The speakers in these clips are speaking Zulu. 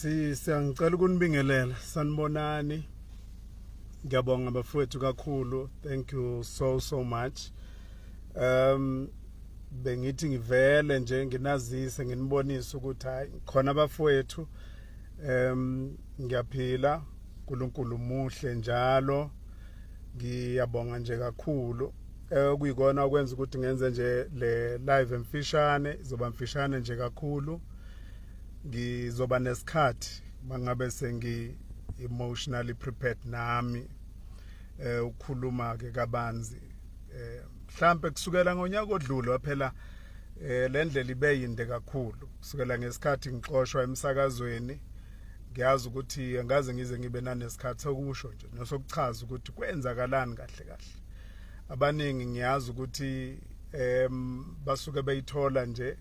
siyangicela ukunibingelela sanibonani ngiyabonga bafowethu kakhulu thank you so so much um bengithi ngivele nje nginazise nginibonise ukuthi hayi khona abafowethu um ngiyaphila uNkulunkulu muhle njalo ngiyabonga nje kakhulu okuyikona eh, okwenza ukuthi ngenze nje le live emfishane izoba mfishane nje kakhulu ngizoba nesikhathi mangabe sengi emotionally prepared nami eh ukukhuluma ke kabanzi eh mhlambe kusukela ngonyaka odlule waphela eh lendlela ibe yinde kakhulu kusukela ngesikhathi ngixoshwa emsakazweni ngiyazi ukuthi angaze ngize ngibe nanesikhathi sokusho nje nosokuchaza ukuthi kwenzakalani kahle kahle abaningi ngiyazi ukuthi em basuke beyithola nje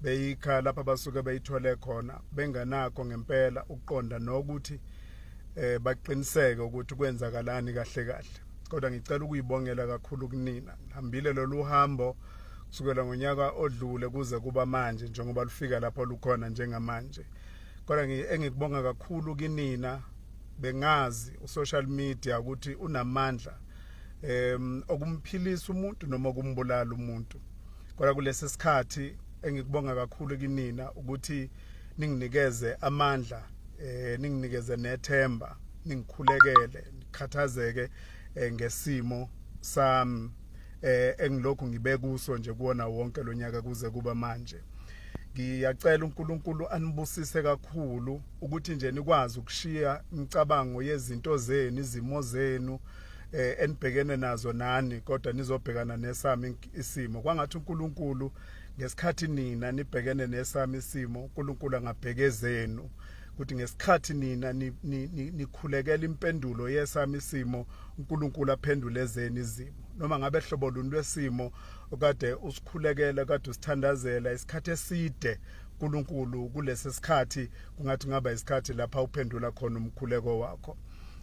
beyikha lapho abasuke beyithole khona benganakho ngempela ukuqonda nokuthi eh baqiniseke ukuthi kwenzakalani kahle kahle kodwa ngicela ukuyibongela kakhulu kunina ngihambile lolu hambo kusukela ngonyaka odlule kuze kuba manje njengoba lufika lapho lukhona njengamanje kodwa engikubonga kakhulu kinina bengazi usocial media ukuthi unamandla em okumphilisa umuntu noma okumbulala umuntu kodwa kulesi sikhathi engikubonga kakhulu kinina ukuthi ninginikeze amandla eh ninginikeze nethemba ningikhulekele nikhathazeke eh, ngesimo sami eh engilokhu ngibe kuso nje kuona wonke lonyaka kuze kuba manje ngiyacela uNkulunkulu anibusise kakhulu ukuthi nje nikwazi ukushiya imicabango yezinto zenu izimo zenu eh enibhekene nazo nani kodwa nizobhekana nesami isimo kwangathi uNkulunkulu ngesikhathi nina nibhekene nesami isimo uNkulunkulu angabhekezenu ukuthi ngesikhathi nina nikhulekela impendulo yesami isimo uNkulunkulu aphendule ezeni izimo noma ngabe hlobo luni lwesimo okade usikhulekela kade usithandazela isikhathi eside uNkulunkulu kulesi sikhathi kungathi ngaba isikhathi lapha uphendula khona umkhuleko wakho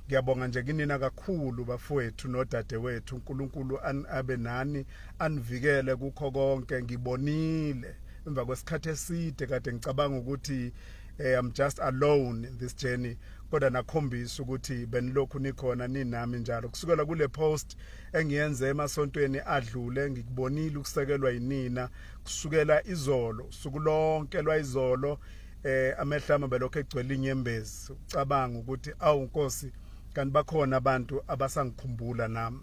Ngiyabonga nje kinina kakhulu bafowethu nodadewethu uNkulunkulu abe nani anivikele kukho konke ngibonile emva kwesikhathi eside kade ngicabanga ukuthi eh, I'm just alone in this journey kodwa nakhombisa ukuthi benilokhu nikhona ninami njalo kusukela kule post engiyenze emasontweni adlule ngikubonile ukusekelwa yinina kusukela izolo suku lonke lwayizolo eh amehlo ami belokho egcwele inyembezi ucabanga ukuthi awu nkosi kanti bakhona abantu abasangikhumbula nami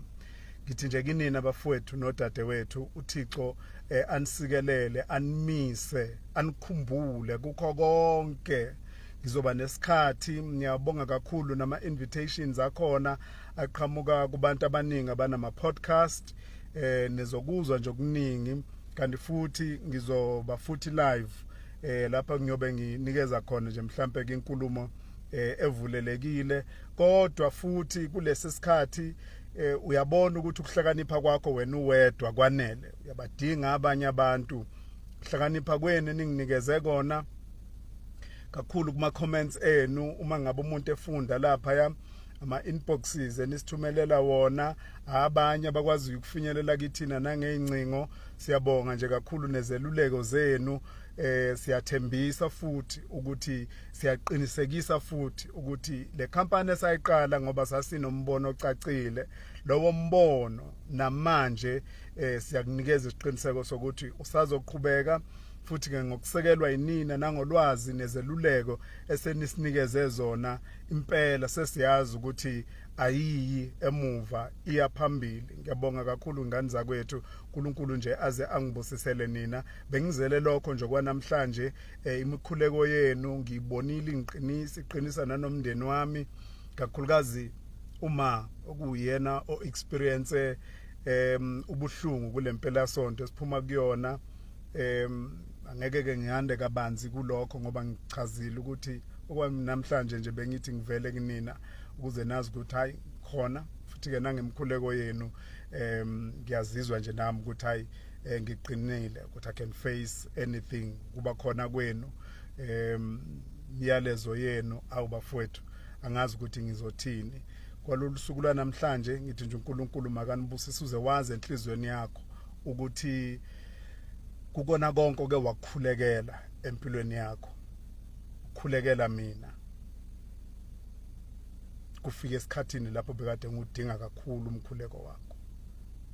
ngithi nje kinina bafowethu nodadewethu uThixo eh, anisikelele animise anikhumbule kukho konke ngizoba nesikhathi ngiyabonga kakhulu nama invitations akhona aqhamuka kubantu abaningi abanama podcast eh nizokuzwa nje okuningi kanti futhi ngizoba futhi live eh lapha ngiyobe nginikeza khona nje mhlambe ke inkulumo eh, evulelekile kodwa futhi kulesi sikhathi eh, uyabona ukuthi ukuhlakanipha kwakho wena uwedwa kwanele uyabadinga abanye abantu ukuhlakanipha kwenu ninginikeze kona kakhulu kuma comments enu uma ngabe umuntu efunda lapha ya ama inboxes enisithumelela wona abanye abakwazi ukufinyelela kithina nangeyincingo Siyabonga nje kakhulu nezeluleko zenu eh siyathembisa futhi ukuthi siyaqinisekisa futhi ukuthi le company esayiqala ngoba sasinombono ocacile lowo mbono namanje eh siyakunikeza isiqiniseko sokuthi usazoqhubeka futhi ke ngokusekelwa yinina nangolwazi nezeluleko esenisinikeze zona impela sesiyazi ukuthi ayiyi emuva iya phambili ngiyabonga kakhulu ngani zakwethu uNkulunkulu nje aze angibusisele nina bengizele lokho nje kwanamhlanje eh, imikhuleko yenu ngiyibonile ingiqinisa iqinisa nanomndeni wami kakhulukazi uma okuyena o experience em ubuhlungu kulempela sonto esiphuma kuyona em angeke ke ngihande kabanzi kulokho ngoba ngichazile ukuthi okwamnamhlanje nje bengithi ngivele kunina ukuze nazi ukuthi hayi khona futhi ke nangemkhuleko yenu em ngiyazizwa nje nami ukuthi hayi eh, ngiqinile ukuthi I can face anything kuba khona kwenu em imiyalezo yenu awu bafowethu angazi ukuthi ngizothini kwalolu suku lwanamhlanje ngithi nje uNkulunkulu makanibusise uze wazi enhlizweni yakho ukuthi kukona konke oke wakukhulekela empilweni yakho khulekela mina kufika esikhathini lapho bekade ngudinga kakhulu umkhuleko wakho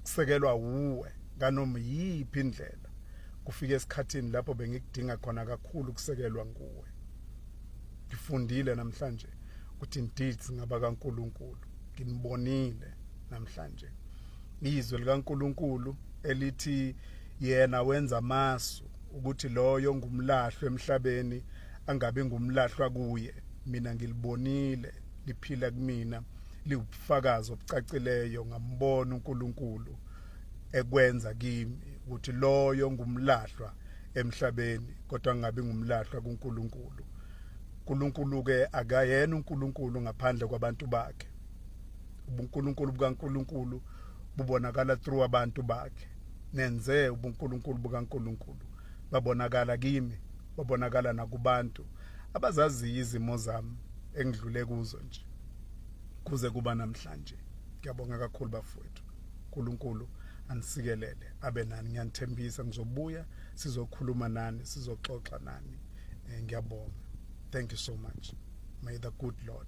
kusekelwa wuwe kanoma yiphi indlela kufika esikhathini lapho bengikudinga khona kakhulu kusekelwa nguwe ngifundile namhlanje ukuthi indeed ngaba kaNkuluNkulu nginibonile namhlanje izwi likaNkulunkulu elithi yena wenza amasu ukuthi loyo ngumlahlo emhlabeni angabe ngumlahlwa kuye mina ngilibonile liphila kumina liwubufakazi obucacileyo ngambona uNkulunkulu ekwenza kimi ukuthi loyo ngumlahlwa emhlabeni kodwa ngabe ngumlahlwa kuNkulunkulu uNkulunkulu ke akayena uNkulunkulu ngaphandle kwabantu bakhe ubunkulunkulu bukaNkulunkulu bubonakala through abantu bakhe nenze ubunkulunkulu bukaNkulunkulu babonakala kimi babonakala nakubantu abazaziyo izimo zami engidlule kuzo nje kuze kuba namhlanje ngiyabonga kakhulu bafowethu uNkulunkulu anisikelele abe nani ngiyanithembisa ngizobuya sizokhuluma nani sizoxoxa nani eh, ngiyabonga thank you so much may the good lord